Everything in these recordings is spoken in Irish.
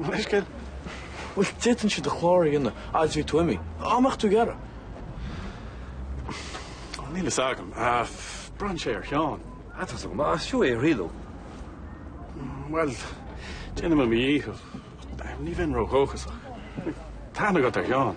Leithscéal? Bhuel, d'fhéadfainnse do chlár a dhéanamh fhad's a bheidh tú imithe. Dá mbeadh tú ag iarraidh. Bhuel, níl a fhios agam. Braitheann sé ar Sheán. Tá a fhios agam, ach is fiú é a thriail. Bhuel, déanfaidh mé mo dhícheall. Ní bheinn ró-dhóchasach. Tá aithne agat ar Sheán.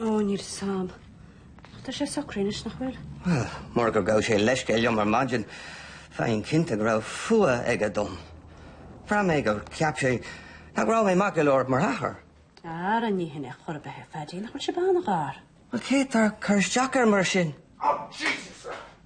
Ó, níl fhios a'am. Ach tá sé socraithe anois, nach bhfuil? Bhuel, murach gur ghabh sé leithscéal liom ar maidin, bheinn cinnte go raibh fuath aige dom. Bhraith mé gur cheap sé nach raibh mé maith go leor mar athair. Ara, ní shin é chor ar bith é, Phaidí. Nach bhfuil sibh an-ghar? Bhuel, céard atá ag cur isteach air mar sin? Oh, Jesus!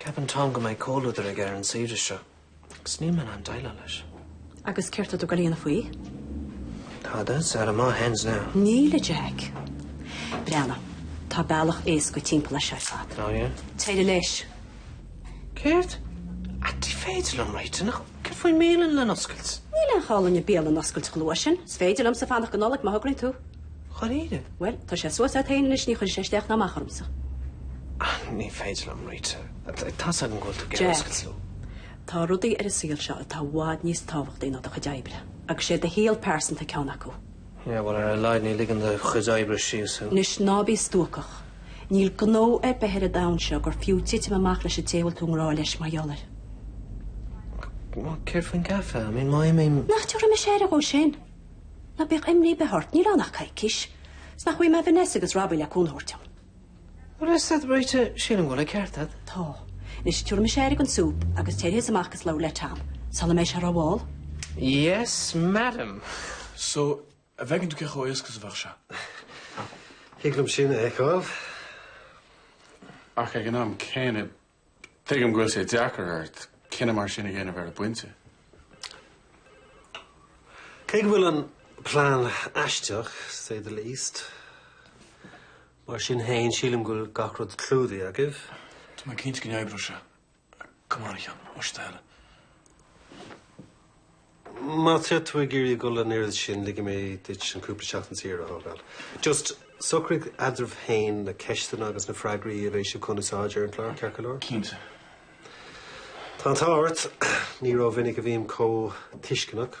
Ceapann Tom go mbeidh comhluadar aige ar an saoire seo agus níl mé in ann déileáil leis. Agus céard tá tú ag gabháil a dhéanamh faoi? Tada, it's out of my hands now. Níl a Jack. Breathnaigh, tá bealach éasca timpeall leis seo ar fad. Oh yeah? Téirigh leis. Céard? Ach ní féidir liom, Rita, nach... Céard faoin mbialann le n-oscailt? Níl aon chall dúinn an bhialann a oscailt chomh luath sin. Is féidir liomsa fanacht go Nollaig má thograíonn tú. Dháiríre? Bhuel, tá sé suas agat féin anois, ní chuirfidh sé isteach ná amach ormsa. Ní féidir liom, Rita. Tá's agam go bhfuil tú ag iarraidh oscailt. Jack, tá rudaí ar an saol seo atá i bhfad níos tábhachtaí ná do chuid oibre. Agus sé do shaol pearsanta ceann acu. Yeah, bhuel, ar a laghad ní ligeann do chuid oibre síos thú. Anois, ná bí stuacach. Níl gnó ar bith ar an domhan seo gur fiú titim amach leis an té a bhfuil tú i ngrá leis mar gheall air. Céard faoin gcaifé? I mean, má imím. Nach dtabharfaidh mise aire dhó sin? Ná bíodh imní ar bith ort, níl ann ach coicís. 'S nach bhfaighidh mé Vanessa agus Robbie le cúnamh a thabhairt dom. Bhfuil's agat, Rita, sílim go bhfuil an ceart agat. Tá. Anois, tabharfaidh mise aire dhon súp agus téirigh thusa amach agus labhair le Tom. Sula mbeidh sé rómhall. Yes, madam. So, an bhfeiceann tú cé chomh éasca is a bheadh sé? Thig liom sin a fheiceáil. Ach ag an am céanna, Tuigim go bhfuil sé deacair ort cinneadh mar sin a dhéanamh ar an bpointe. Cé go bhfuil an plean aisteach, to say the least, mar sin féin sílim go bhfuil gach rud clúdaithe agaibh. Tá mé cinnte go n-oibreoidh sé. Come on, a Sheáin. Más é do thoil é. Má tá tú ag iarraidh a dhul an oiread sin, ligfidh mé duit an cúpla seachtain saor a thógáil. Just socraigh eadraibh féin na ceisteanna agus na freagraí a bheidh sibh chun úsáid ar an chlár, ceart go leor? Cinnte. Tá an t-ádh ort. Ní rómhinic a bhím chomh tuisceanach.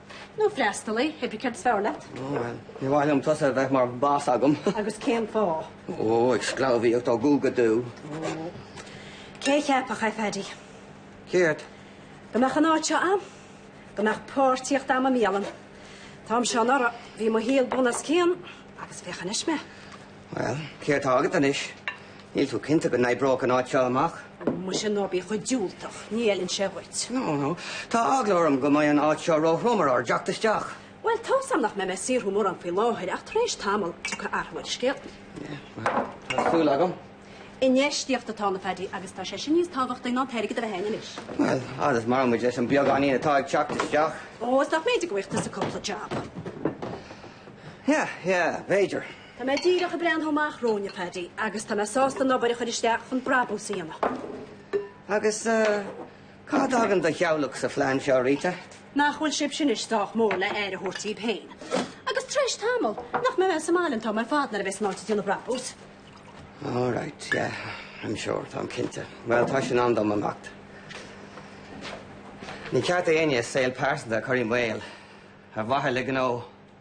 Nó freastalaí, cibé céard is fearr leat? Ó bhuel, níor mhaith liom tusa a bheith mar bhoss agam. Agus cén fáth? Ó, ag sclábhaíocht ó dhubh go dubh. Ó. Cé a cheapfadh é, a Phaidí? Céard? Go mbeadh an áit seo ann. Go mbeadh páirtíocht agam i mbialann. An t-am seo anuraidh. Bhí mo shaol bunoscionn agus féach anois mé. Bhuel, céard atá agat anois? Níl tú cinnte go n-oibreoidh an áit seo amach? Muise ná bí chomh diúltach, ní fheileann sé dhuit. No, no. Tá eagla orm go mbeidh an áit seo ró-throm ar ár dteacht isteach. Bhuel, tá 's agam nach mbeidh mé ag saothrú mórán faoi láthair ach tar éis tamaill, tiocfaidh athrú ar an scéal. Yeah, tá súil agam. Infheistíocht atá ann, a Phaddy, agus tá sé sin níos tábhachtaí ná an t-airgead a bheith a'inn anois. Bhuel, fhad is maireann muid leis an beagáinín atá ag teacht isteach. Ó, is nach mb'fhéidir go bhfaighidh tusa cúpla jab. Yeah, yeah, b'fhéidir. Tá mé díreach ag breathnú amach romhainn, a Phaddy, agus tá mé sásta an obair a chur isteach chun brabús a dhéanamh. Agus cá dtagann do theaghlach sa phlean seo, Rita? Nach bhfuil sibhse anois sách mór le aire a thabhairt daoibh féin? Agus tar éis tamall, nach mbeidh mé sa mbaile an t-am ar fad nuair a bheas an áit ag déanamh brabús? All right, yeah, I'm sure, táim cinnte. Bhuel, tá sé in am dom imeacht. Ní ceart d'éinne saol pearsanta a chur i mbaol ar mhaithe le gnó.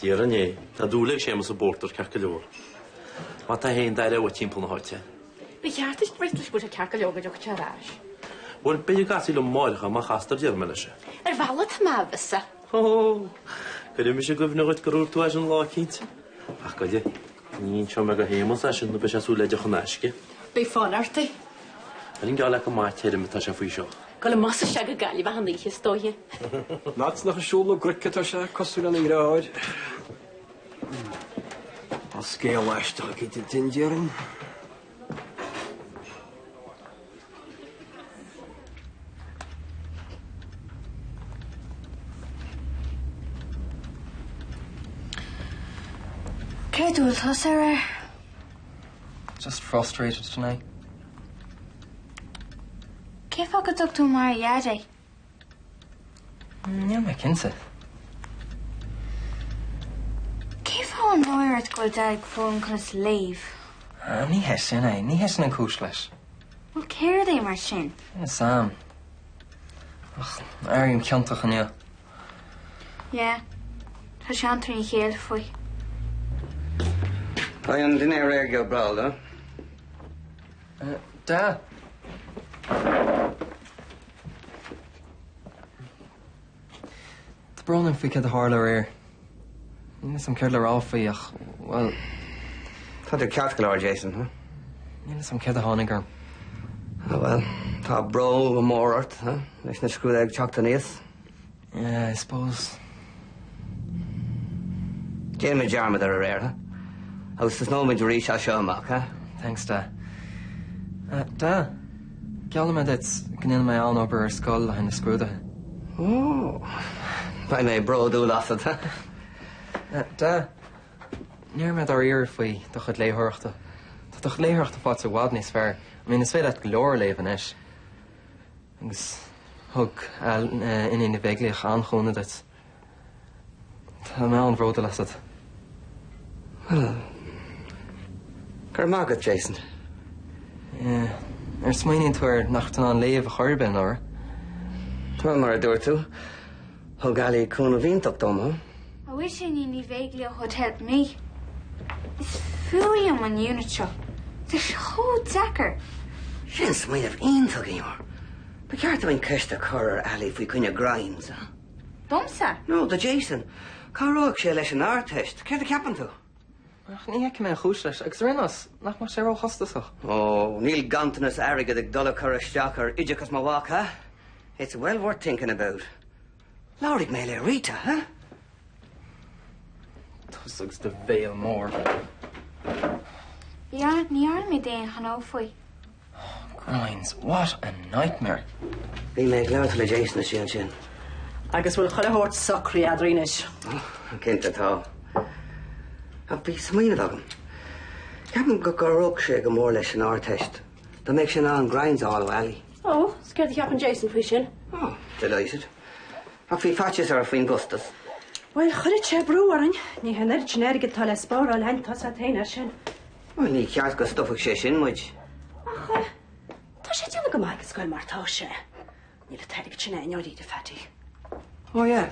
Déarfainn é, tá dúil ag Séamus i bpórtar ceart go leor. Má tá fhéin, d'aireofá uait timpeall na háite? Ba cheart duit breith leis go bhfuil sé ceart go leor go dtiocfaidh sé ar ais. Bhuel, b'fhéidir go gcasfaí liom amáireach é, má chastar déarfaidh mé leis é. Ar bhealach tá mé i bhfios. Hó! Cuirfidh mise i gcuimhne dhuit gur dhúirt tú é sin lá eicínt. Ach, goidé? Ní inseoidh mé do Shéamus é sin nó beidh sé ag súil le deoch in aisce. Beidh fonn ort é. An geall leat gur maith tirim atá sé faoi seo? Ag goil amach is isteach go Gaillimh achan oíche is dóiche. Fhad is nach ag siúl na gcnoic atá sé, cosúil lena dheartháir. Tá scéal aisteach éigin ann déarfainn. Cé dúirt tú, Sarah? Just frustrated tonight. Cén fáth go dtug tú mar a dheaid é? Níl mé cinnte. Cén fáth? An bhfuil náire ort go bhfuil Deaid ag foghlaim conas léamh? Ah, ní hé sin é. Ní hé sin an cúis leis. Bhuel, céard é mar sin? Níl 'fhios a'm. Ach, airím ciontach inniu. Yeah. Tá sé an-trína chéile faoi. Beidh an dinnéar réidh go breá luath. Da. Tá brón orm faoi cad a tharla aréir. Níl 'fhios a'm céard le rá faoi ach bhuel. Tá tú ceart go leor Jason, huh? Níl 'fhios a'm céard a tháinig orm. Ah bhuel, tá brú mór ort, huh, leis na scrúduithe ag teacht aníos. Yeah, I suppose. Déanfaimid dearmad ar aréir, huh, agus tosnóimid arís as seo amach, huh? Thanks, Da. Ah, Da. Geallaim duit go ndéanfaidh mé an-obair ar scoil le haghaidh na scrúdaithe. Beidh mé bródúil asat. Dad, ní raibh mé dáiríre faoi do chuid léitheoireachta. Tá do chuid léitheoireachta faighte i bhfad níos fearr. I mean, is féidir leat go leor a léamh anois. Agus thug Iníon Ní Bheaglaoich an-chúnamh duit. Tá mé an-bhródúil asat. Bhuel, go raibh maith agat, Jason. Yeah. Nuair a smaoiníonn tú air, nach raibh tú in ann léamh ar chor ar bith anuraidh? Bhuel, mar a dúirt tú, thug Ali cúnamh iontach dom, ha? I wish Iníon Ní Bheaglaoich would help me. Is fuath liom an unit seo. Tá sé chomh deacair. Sin smaoineamh iontach, Eimear. Ba cheart dúinn ceist a chur ar Ali faoi choinne grinds, ha? Domsa? Nó do Jason? Cabhróidh sé leis an Ardteist, céard a cheapann tú? Ach ní fheicim aon chúis leis. Agus ar aon nós, nach mbeadh sé róchostasach? Ó, níl ganntanas airgid ag dul ag cur isteach ar oideachas mo mhac, ha? It's well worth thinking about. Labharfaidh mé le Rita, ha? Tusa agus do bhéal mór. Ní, ní, ní raibh mé d'aon ghnó faoi. Grinds, what a nightmare! Bhí mé ag labhairt le Jason istigh ansin. Agus bhfuil chuile shórt socraithe eadrainn anois? Cinnte tá. Ach bhí smaoineamh agam. Ceapaim go gcabhródh sé go mór leis an Ardteist dá mbeadh sé in ann grinds a fháil ó Ali. Ó, is céard a cheapann Jason faoi sin? Ó, delighted. Ach bhí faitíos air faoin gcostas. Bhuel, chuirfeadh sé brú orainn. Ní hé an oiread sin airgid atá le spáráil againn, tá's a't féin é sin. Bhuel, ní ceart go stopfadh sé sin muid. Ach tá sé ag déanamh go maith ag an scoil mar atá sé. Níl an t-airgead sin againn dáiríre, a Phaddy. Ó yeah.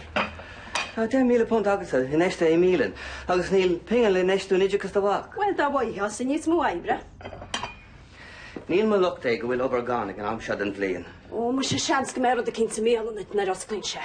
Tá £10,000 agatsa infheistithe i mbialann agus níl pingin le infheistiú in oideachas do mhac. Bhuel, dá bhfaighfeása níos mó oibre. Níl mo locht é go bhfuil obair gann ag an am seo den bhliain. Ó muise, seans go mbeidh rud eicínt sa mbialann duit nuair a osclaíonn sé.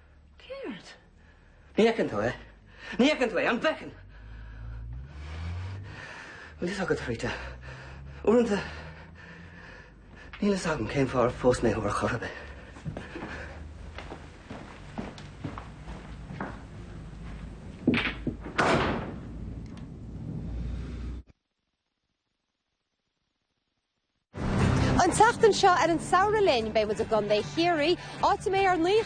Céard? Ní fheiceann tú é? Ní fheiceann tú é, an bhfeiceann? Bhfuil fhios agat, Rita, uaireanta níl fhios agam cén fáth ar phós mé thú ar chor ar bith. An tseachtain seo ar an Samhradh Linn beidh muid i gContae Chiarraí, áit a mbeidh ár naoi